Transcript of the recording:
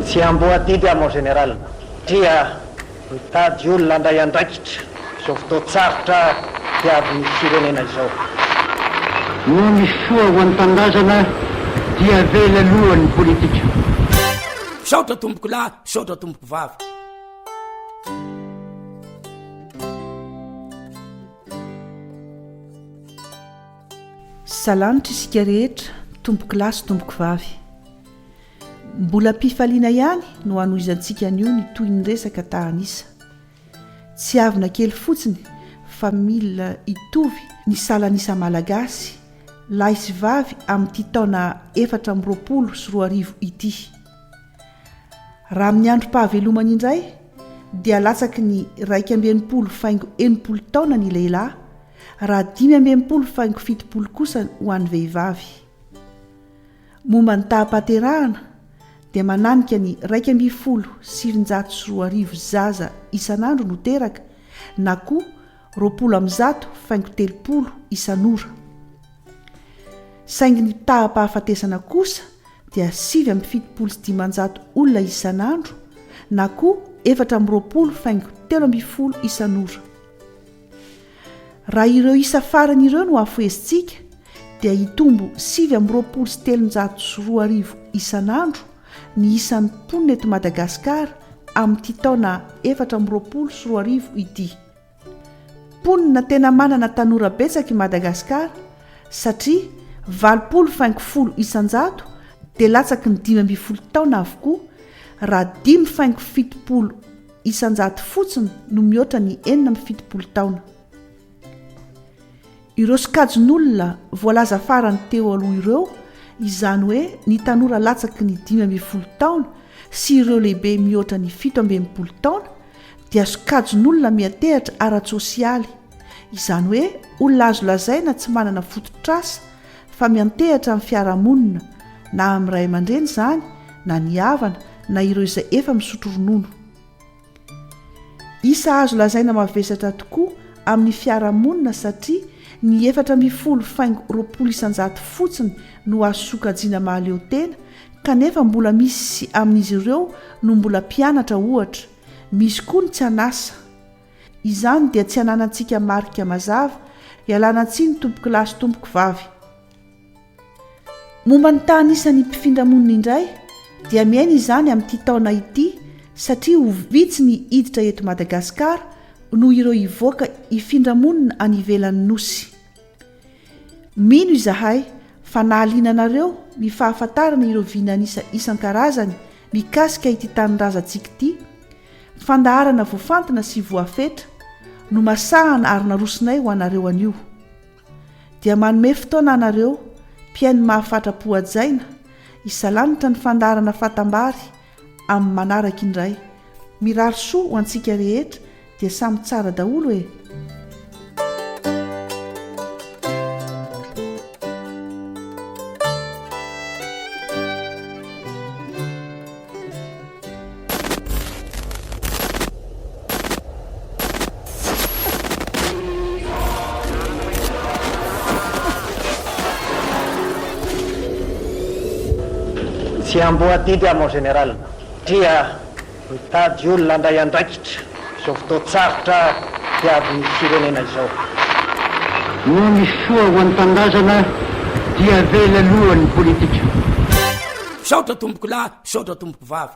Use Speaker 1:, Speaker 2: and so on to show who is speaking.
Speaker 1: Tsy amboadidy aho mon général satria mitady olona handray andraikitra izao fotoan-tsarotra diavin'ny firenena izao.
Speaker 2: Noho ny soa ho an'ny tanindrazana dia avela aloha ny politika.
Speaker 3: Misaotra tompokolahy. Misaotra tompoko vavy.
Speaker 4: Salanitra isika rehetra tompokolahy sy tompokovavy. Mbola am-pifaliana ihany no hanohizantsika anio ny tohin'ny resaka tahan'isa. Tsiavina kely fotsiny fa mila hitovy ny salan'isa Malagasy lahy sy vavy amin'ity taona efatra amby roapolo sy roa arivo ity. Raha amin'ny androm-pahavelomany indray dia latsaky ny iraika amby enimpolo faingo enimpolo taona ny lehilahy raha dimy amby enimpolo faingo fitopolo kosa ho an'ny vehivavy. Momba ny taham-pahaterahana dia mananika ny iraika ambin'ny folo sy sivinjato sy roa arivo zaza isan'andro no teraka na koa roapolo amby zato faingo telopolo isan'ora, saingy ny taham-pahafatesana kosa dia sivy amby fitopolo sy dimanjato olona isan'andro na koa efatra amby roapolo faingo telo ambin'ny folo isan'ora. Raha ireo isa farany ireo no afohezintsika dia hitombo sivy amby roapolo sy telonjato sy roa arivo isan'andro ny isan'ny mponina eto Madagasikara amin'ity taona efatra amby roapolo sy roa arivo ity. Mponina tena manana tanora betsaka i Madagasikara satria valopolo faingo folo isan-jato dia latsaky ny dimy ambin'ny folo taona avokoa raha dimy faingo fitopolo isan-jato fotsiny no mihoatra ny enina amby fitopolo taona. Ireo sokajin'olona voalaza farany teo aloha ireo, izany hoe ny tanora latsaky ny dimy ambin'ny folo taona sy ireo lehibe mihoatra ny fito amby enimpolo taona, dia sokajin'olona miha-tehatra ara-tsosialy, izany hoe olona azo lazaina tsy manana fototr'asa fa miantehatra amin'ny fiarahamonina, na amin'ny ray aman-dreny izany, na ny havana, na ireo izay efa misotro ronono. Isa azo lazaina mavesatra tokoa amin'ny fiarahamonina satria ny efatra ambin'ny folo faingo roapolo isan-jato fotsiny no azo sokajiana mahaleo tena kanefa mbola misy amin'izy ireo no mbola mpianatra ohatra, misy koa ny tsy an'asa. Izany dia tsy ananantsika marika mazava, ialana tsiny tompokolahy sy tompokovavy. Momba ny tany isan'ny mpifindra monina indray dia miaina izany amin'ity taona ity satria ho vitsy ny hiditra eto Madagasikara noho ireo hivoaka hifindra monina any ivelan'ny Nosy. Mino izahay fa nahaliana anareo ny fahafantarana ireo vinan'isa isan-karazany mikasika ity tanindrazantsika ity, fandaharana voafantina sy voafetra, nomasahana ary narosonay ho anareo anio. dia manome fotoana anareo mpihaino mahafatra-po hajaina hisalanitra ny fandaharana fatambary amin'ny manaraka indray. Mirary soa ho antsika rehetra dia samy tsara daholo e!
Speaker 1: Tsy amboa adidy aho mon général, dia mitady olona handray andraikitra. izao fotoan-tsarotra diavin'ny firenena izao.
Speaker 2: Noho ny soa ho an'ny tanindrazana dia
Speaker 3: avela
Speaker 2: aloha ny
Speaker 3: politika. Misaotra tompokolahy, misaotra tompokovavy.